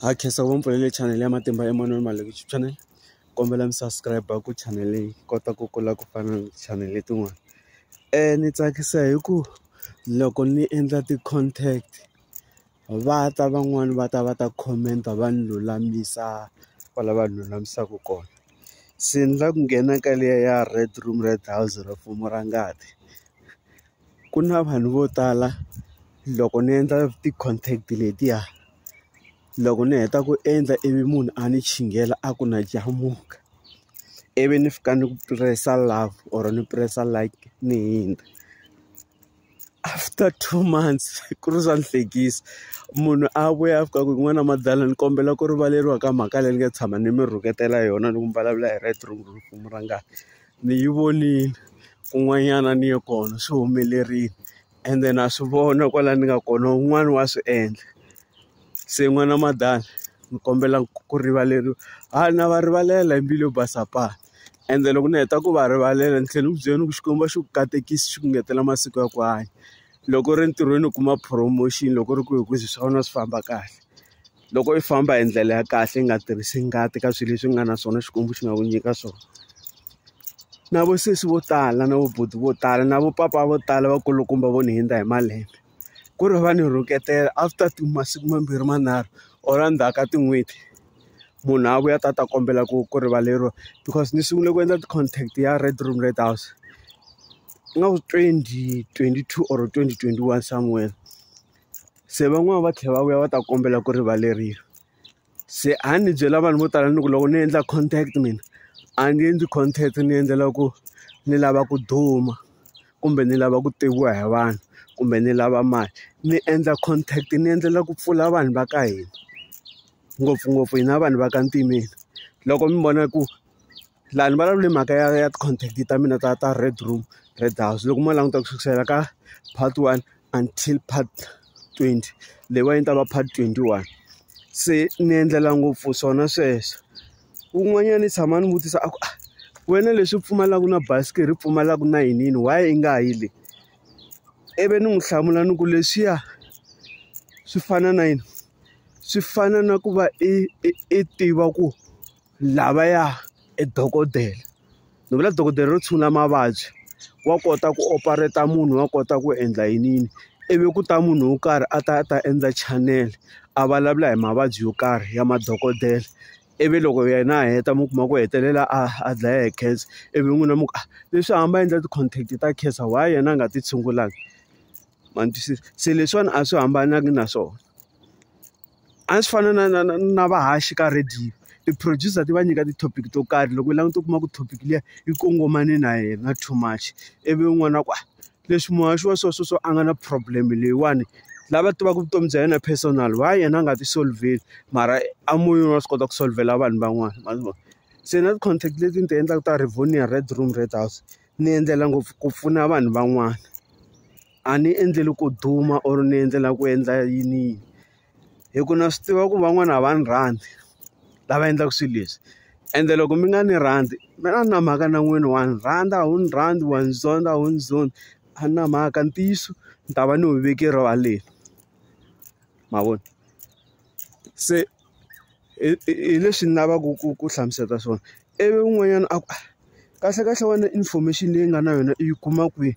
Hi khensa ku va mi pfulele chanele ya Matimba Emmanuel Maleku YouTube channel kombela mi subscribe ku chanel leyi kota ku kula ku fana na chanel letin'wana ni tsakisa hi ku loko ni endla ti-contact va ta van'wani va ta va ta comment-a va ni lulamisa kwala va lulamisaka kona se ni la ku nghena ka liya ya red room red house ra mfumo ra ngati ku na vanhu vo tala loko ni endla ti-contact letiya. loko ni heta ku endla ivi munhu a ni chingela a ku na jamuka ivi ni fika ni ku press-a love or ni press-a like ni hundza after two months ku ri swa ni hlekisa munhu a vuya a fika ku n'wana madala ni kombela ku rivaleriwa ka mhaka leyi ni nga tshama ni mi rhuketela yona loko mi vulavula hi right wrong rungula ni yi vonile kun'wanyana ni ye kona swi humelerile. ende na swi vona kwala ni nga kona un'wana wa swi endla se n'wana madala ni kombela ku rivaleriwa ha na va rivalela hi mbilu yo basa pa ende loko ni heta ku va rivalela ni tlhela ni ku byela ni ku Xikwembu a xi ku katekisi xi ku ngetela masiku ya ku hanya loko u ri entirhweni u kuma promotion loko u ri ku hi ku swa wena swi famba kahle. Loko i famba hi ndlela ya kahle yi nga tirhisi ngati ka swilo leswi nga na swona Xikwembu xi nga ku nyika swona. Na vo sesi vo tala na vo buti vo tala na vo papa vo tala va kulukumba vo ni hundza hi malembe, ku ri va ni rhuketela after masiku mambirhi manharhu or endzhaku ka tin'hweti, munhu a vuya a ta ta kombela ku ku rivaleriwa. Because ni sungule ku endla ti-contact ya Red Room Red House ingaku twenty twenty two or twenty twenty one somewhere. se van'wani va tlhela va vuya va ta kombela ku rivaleriwa se a ni byela vanhu vo tala ni ku loko ni endla contact mina a ni endli contact ni endlela ku ni lava ku duma kumbe ni lava ku tiviwa hi vanhu kumbe ni lava mali ni endla contact ni endlela ku pfula vanhu va ka hina ngopfungopfu hina vanhu va ka ntimeni loko mi vona ku laha ni vulavula hi mhaka ya ya ti-contact ta mina ta ta Red room Red house loko mo languta ku sukela ka part one until part twenty leyiwani yi ta va part twenty one se ni endlela ngopfu swona sweswo wun'wanyana ni tshama ni vutisa a ku a wena leswi pfumalaka na basikiri i pfumalaka na yini yini why i nga yi le ivi ni n'wi hlamula ni ku leswiya swi fana na yini swi fana na ku va i i i tiva ku Lavaya i dokodela ni vula dokodela ro tshungula mavabyi wa kota ku operate-a munhu wa kota ku endla yini yini ivi ku ta munhu wo karhi a ta a ta endla channel a vulavula hi mavabyi yo karhi ya madokodela ivi loko yena a heta mi kuma ku hetelela a a dlaya hi cancer ivi n'wina mi ku a leswi a hamba a endla ti-contact ta cancer why yena a nga ti tshungulanga ma ni twisisa se leswiwani a swi hambananga na swona. A swi fana na na na na vahaxi ka radio. Ti-producer ti va nyika ti-topic to karhi loko u languta u kuma ku topic liya yi kongomane na yena too much, ivi un'wana a ku a leswi muhaxi wa so so so a nga na problem leyiwani lava tivaka vutomi bya yena personal why yena a nga ti solve-veli mara a moyeni wa swi kota ku solve-vela vanhu van'wana ma swi vona. Se na ti-content leti ni ti endlaka ta Rivonia Red Room Red House ni endlela ngopfu ku pfuna vanhu van'wana. a ni endleli ku duma or ni endlela ku endla yini yini hi ku na swi tiva ku van'wana a va ni rhandzi lava endlaka swilo leswi ende loko mi nga ni rhandzi mi na na mhaka na n'wini wa ni rhandza a wu ni rhandzi wa ni zonda a wu ni zondi a ni na mhaka ntiyiso ni ta va ni wu veke erivaleni ma vona se hi leswi ni lavaka ku ku hlamusela swona ivi un'wanyana a ku kahlekahle wena information leyi nga na yona i yi kuma kwihi.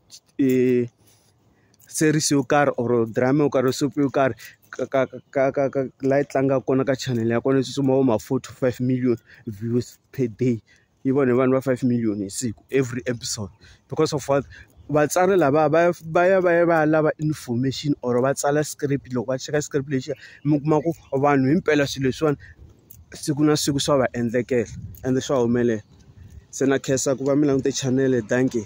series yo karhi or drama yo karhi or soap yo karhi ka ka ka ka ka la yi tlangaka kona ka channel ya kona yi tsutsuma vo ma four to five million views per day yi vona hi vanhu va five million hi siku every episode because of what vatsari lava va va ya va ya va ya lava information or va tsala script loko va cheka script lexiya mi kuma ku vanhu himpela swilo leswiwani. siku na siku swa va endlekela ende swa humelela se na khensa ku va mi langute chanele dankie.